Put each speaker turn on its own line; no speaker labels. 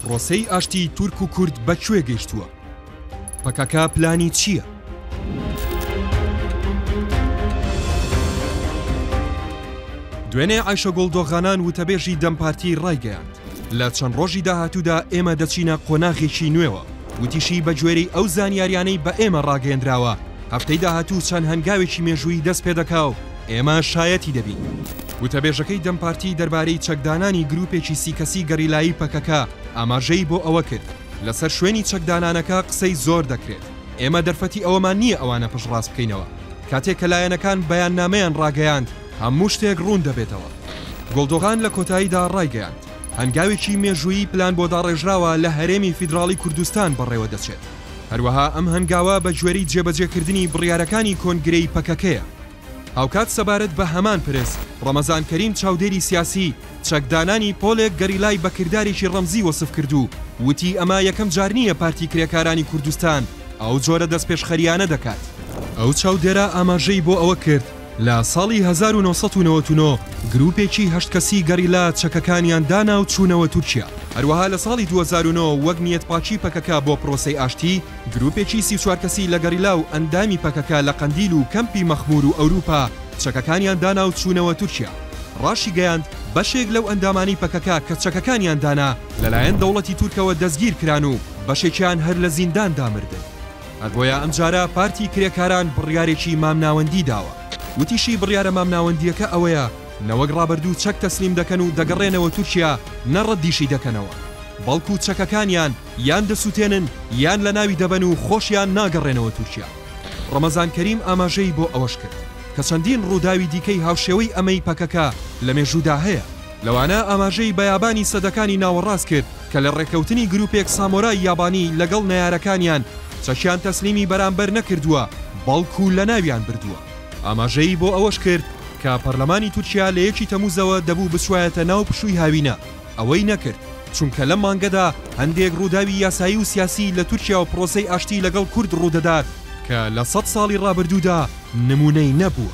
پرۆسەی ئاشتی تورک و کورد بە کوێ گەیشتووە؟ پەکەکە پلانی چییە؟ دوێنێ ئایشەگوڵ دۆغانان وتەبێژی دەم پارتی ڕایگەیاند لە چەند ڕۆژی داهاتوودا ئێمە دەچینە قۆناغێکی نوێوە وتیشی بەگوێرەی ئەو زانیاریانەی بە ئێمە ڕاگەیەندراوە هەفتەی داهاتوو چەند هەنگاوێکی مێژوویی دەست پێ دەکا و ئێمە شایەتی دەبین. وتەبێژەکەی دەم پارتی دەربارەی چەکدانانی گرووپێکی سی کەسی گەریلایی پەکەکە ئاماژەی بۆ ئەوە کرد، لەسەر شوێنی چەکدانانەکە قسەی زۆر دەکرێت، ئێمە دەرفەتی ئەوەمان نییە ئەوانە پشتڕاست بکەینەوە، کاتێک کە لایەنەکان بەیاننامەیان ڕاگەیاند هەموو شتێک ڕوون دەبێتەوە. گۆڵدۆغان لە کۆتاییدا ڕایگەیاند، هەنگاوێکی مێژوویی پلان بۆ داڕێژراوە لە هەرێمی فیدراڵی کوردستان بەڕێوە دەچێت. هەروەها ئەم هەنگاوە بە گوێرەی جێبەجێکردنی بڕیارەکانی کۆنگرەی پەکەکەیە. هاوکات سەبارەت بە هەمان پرس، ڕەمەزان کەریم چاودێری سیاسی، چەکدانانی پۆلێک گەریلای بە کردارێکی ڕەمزی وەسف کرد و وتی ئەمە یەکەم جار نییە پارتی کرێکارانی کوردستان ئەو جۆرە دەستپێشخەرییانە دەکات. ئەو چاودێرە ئاماژەی بۆ ئەوە کرد، لە ساڵی هەزار و نۆ سەد و نەوەد و نۆ گرووپێکی هەشت کەسی گەریلا چەکەکانیان دانا و چوونەوە تورکیا. هەروەها لە ساڵی دوو هەزار و نۆ وەک نیەتپاکی پەکەکە بۆ پرۆسەی ئاشتی، گرووپێکی سی و چوار کەسی لە گەریلا و ئەندامی پەکەکە لە قەندیل و کەمپی مەخموور و ئەوروپا چەکەکانیان دانا و چوونەوە تورکیا. ڕاشیگەیاند، بەشێک لەو ئەندامانەی پەکەکە کە چەکەکانیان دانا لەلایەن دەوڵەتی تورکەوە دەستگیرکران و بەشێکیان هەر لە زینداندا مردن. هەربۆیە ئەمجارە پارتی کرێکاران بڕیارێکی مامناوەندی داوە، وتیشی بڕیارە مامناوەندییەکە ئەوەیە نەوەک رابردوو چەک تەسلیم دەکەن و دەگەڕێنەوە تورکیا نە رەددیشی دەکەنەوە بەڵکو چەکەکانیان یان دەسوتێنن یان لەناوی دەبەن و خۆشیان ناگەڕێنەوە تورکیا. رەمەزان کەریم ئاماژەی بۆ ئەوەشکرد کە چەندین رووداوی دیکەی هاوشێوەی ئەمەی پەکەکە لە مێژوودا هەیە، لەوانە ئاماژەی بە یابانی سەدەکانی ناوەڕاست کرد کە لە ڕێکەوتنی گروپێک سامۆرای یابانی لەگەڵ نەیارەکانیان چەکیان تەسلیمی بەرامبەر نەکردووە بەڵکو لەناویان بردووە. ئاماژەی بۆ ئەوەش کرد کە پەرلەمانی تورکیا لە یەکی تەموزەوە دەبوو بچوایەتە ناو پشووی هاوینە، ئەوەی نەکرد، چونکە لەم مانگەدا هەندێک ڕووداوی یاسایی و سیاسی لە تورکیا و پرۆسەی ئاشتی لەگەڵ کورد ڕوودەدات کە لە سەد ساڵی ڕابردوودا نمونەی نەبووە.